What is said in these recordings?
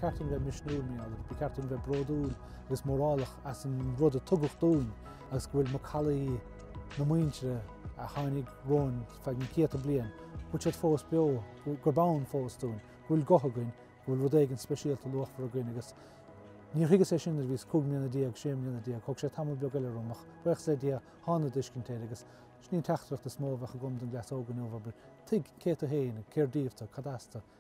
ceart dúinn bheith misniúil mé agat, ba cheart dúinn bheith bródúil agus mórálach as an rud a tugadh dúinn agus go bhfuil macallaí na muintire a tháinig romhainn feadh na céadta bliain, go bhfuil siad fós beo, gurb ann fós dúinn, go bhfuil guth againn, go bhfuil rud éigin speisialta luachmhar againn agus níor thuigeas é sin nuair a bhíos cúig mbliana déag, sé mbliana déag, thóg sé tamall beag eile orm ach buíochas le Dia thána i dtuiscint air agus sin í an teachtaireacht is mó a bheadh agam don gcleas óg inniu, abair, tuig cé tú féin, cér díobh tú, cad as tú,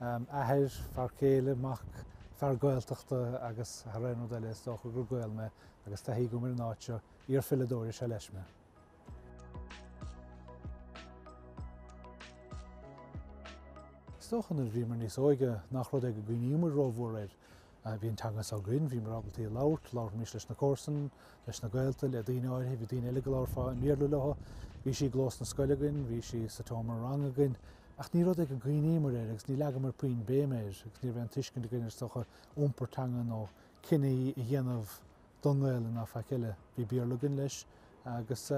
athair, fear céile, mac, fear Gaeltachta agus thar aon rud eile is dócha gur Gael mé agus taithí agam ar an áit seo, iarpheileadóir is ea leis mé. Is dócha nuair a bhíomar níos óige nach rud é go gcuimhníomar rómhór air. Bhí an teanga seo againn, bhíomar ábalta í a labhairt, labharfaimis leis na comharsain, leis na gaolta, le daoine áirithe, bhí daoine eile go labharfá i mBéarla leothu. Bhí sí i gclós na scoile againn, bhí sí sa tseomra ranga againn. Ach ní rud é go gcuimhníomar air agus ní leagamar puinn béime air agus ní raibh aon tuiscint againn ar, is dócha, iompar teanga nó cinní a dhéanamh don nGaelainn ná faic eile. Bhí Béarla againn leis agus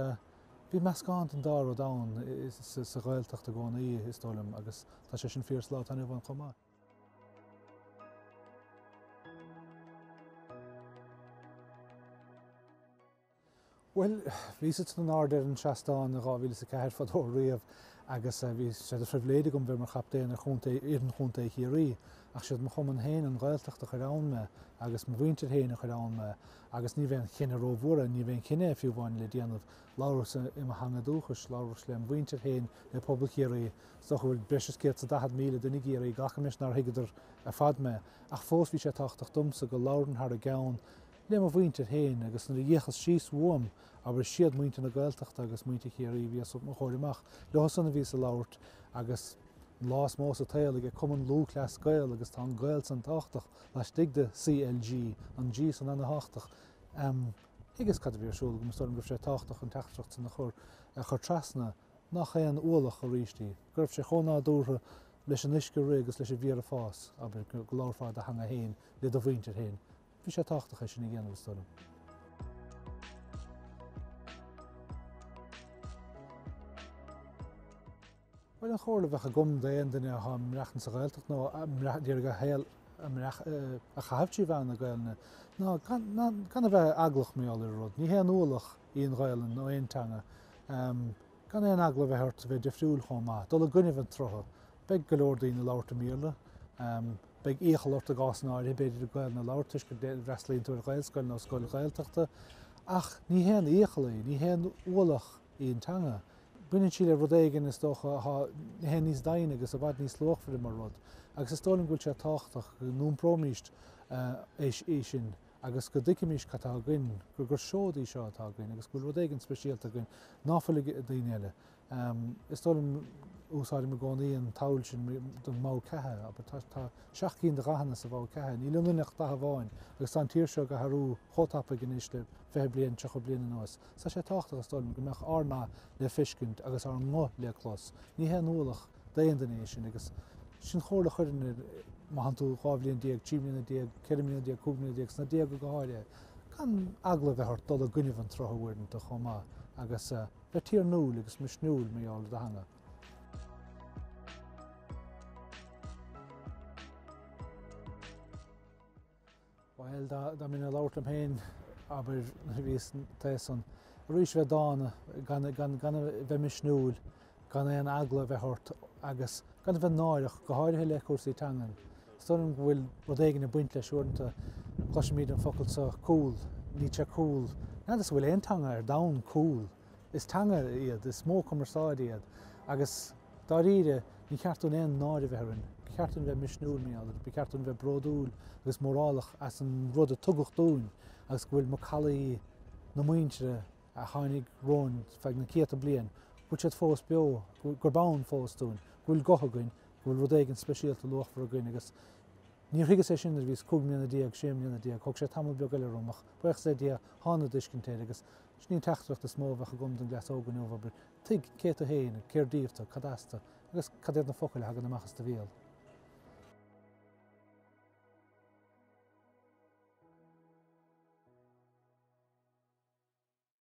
bhí meascán den dá rud ann sa Ghaeltacht i gcónaí is dóigh liom agus tá sé sin fíor sa lá atá inniu ann chomh maith. Bhuel, bhíos in airde ar an seastán i 2004 fadó riamh agus eh, bhí sé de phribhléid agam bheith mar chaptaen ar chontae, fhoireann chontae Chiarraí ach is iad mo chumann féin, an Ghaeltacht a chuir ann me agus mo mhuintir féin a chuir ann me agus ní raibh aon chinneadh rómhór, ní raibh aon chinneadh fiú amháin le déanamh Labhraíos i mo theanga dúchais, labhraíos lem' mhuintir féin le pobal Chiarraí. Is dócha go bhfuil breis is céad is daichead míle duine i gCiarraí, glacaim leis nár thuigeadar ar fad mé, ach fós bhí sé tábhachtach domsa go labhrainn thar a gceann le mo mhuintir féin, agus nuair a d'fhéachas síos uaim, abair, is iad muintir na Gaeltachta agus muintir Chiarraí a bhí os mo chomhair amach, leothusan a bhíos ag labhairt, agus an lá is mó sa tsaol aige Cumann Lúthchleas Gael, agus tá an 'Gael' san tábhachtach laistigh de CLG, an G san ana-thábhachtach. thuigeas cad a bhí ar siúl agam, is dóigh liom go raibh sé tábhachtach an teachtaireacht sin a chur, a chur trasna, nach aon ualach arís í, go raibh sé chomh nádúrtha leis an uisce ag rith agus leis an bhféar ag fás, abair, go, go labharfá i do theanga fhéin le do mhuintir fhéin. Bhí sé tábhachtach é sin a dhéanamh, is dóigh liom. Bhuel, an chomhairle a bheadh agam d'aon duine athá ag maireachtaint sa Ghaeltacht nó a d'iarraidh a shaol a chaitheamh trí mheán na Gaelainne ná gan a bheith eaglach, míáil ar an rud. Ní haon ualach í an Ghaelainn nó aon teanga. Gan aon eagla a bheith ort a bheith difriúil chomh maith, dul i gcoinnibh an tsrutha. Beidh go leor daoine ag labhairt i mBéarla. Beidh iachall ort i gcásanna áirithe, b'fhéidir, Gaelainn a labhairt toisc go bhfreastlaíonn tú ar Ghaelscoil nó scoil Ghaeltachta. Ach ní haon iachall í, ní haon ualach í an teanga. Baineann sí le rud éigin, is dócha, atá níos daingne agus i bhfad níos luachmhaire mar rud. Agus is dóigh liom go bhfuil sé tábhachtach go n-iompróimíst é sin agus go dtuigfimíst cad tá againn, gur gur seod í seo atá againn agus go bhfuil rud éigin speisialta againn ná fuil ag daoine eile. Is dóigh liom, úsáidim i gcónaí an tsamhail sin don mbogha ceatha, abair. Tá tá seacht gcinn de dhathanna sa bhogha ceatha. Níl ionainn ach dath amháin agus tá an tír seo ag athrú chomh tapaidh anois le fiche bliain, tríocha bliain anuas, Tá sé tábhachtach, is dóigh liom, go mbeadh ár ndath le feiscint agus ár nguth le clos. Ní haon ualach d'aon duine é sin agus sin chomhairle a chuirfinn ar éinne, má tánn tú dhá bhliain déag, trí bliana déag, ceithre bliana déag, cúig mbliana déag, sna déaga go háirithe, gan eagla a bheith ort dul i gcoinnibh an tsrutha uaireanta chomh maith agus a bheith tiarnúil agus misniúil mar gheall ar do theanga. Bhuel, dá mbeinn ag labhairt liom féin, abair, nuair a bhíos thíos ansan. Arís, bheith dána, gan a bheith misniúil, gan aon eagla a bheith ort agus gan a bheith náireach, go háirithe le cúrsaí teangan. Is dóigh liom go bhfuil rud éigin ag baint leis uaireanta. Cloisimid an focal seo 'cool'. Níl sé 'cool'. N'fheadar an bhfuil aon teanga ar domhan 'cool'. Is teanga iad, is modh cumarsáide iad agus dáiríre ní ceart dúinn aon náire a bheith orainn. Ba cheart dúinn bheith misniúil, mar gheall air. Ba cheart dúinn bheith bródúil agus mórálach as an rud a tugadh dúinn agus go bhfuil macallaí na muintire a tháinig romhainn feadh na céadta bliain, go bhfuil siad fós beo, gurb ann fós dúinn, go bhfuil guth againn, go bhfuil rud éigin speisialta luachmhar againn agus níor thuigeas é sin nuair a bhíos cúig mbliana déag, sé mbliana déag. Thóg sé tamall beag eile orm ach, buíochas le Dia, thána ar tuiscint air agus Sin í an teachtaireacht is mó a bheadh agam don gcleas óg inniu, abair, tuig cé tú féin, cér díobh tú, cad as tú, agus cad iad na focail a thagann amach as do bhéal.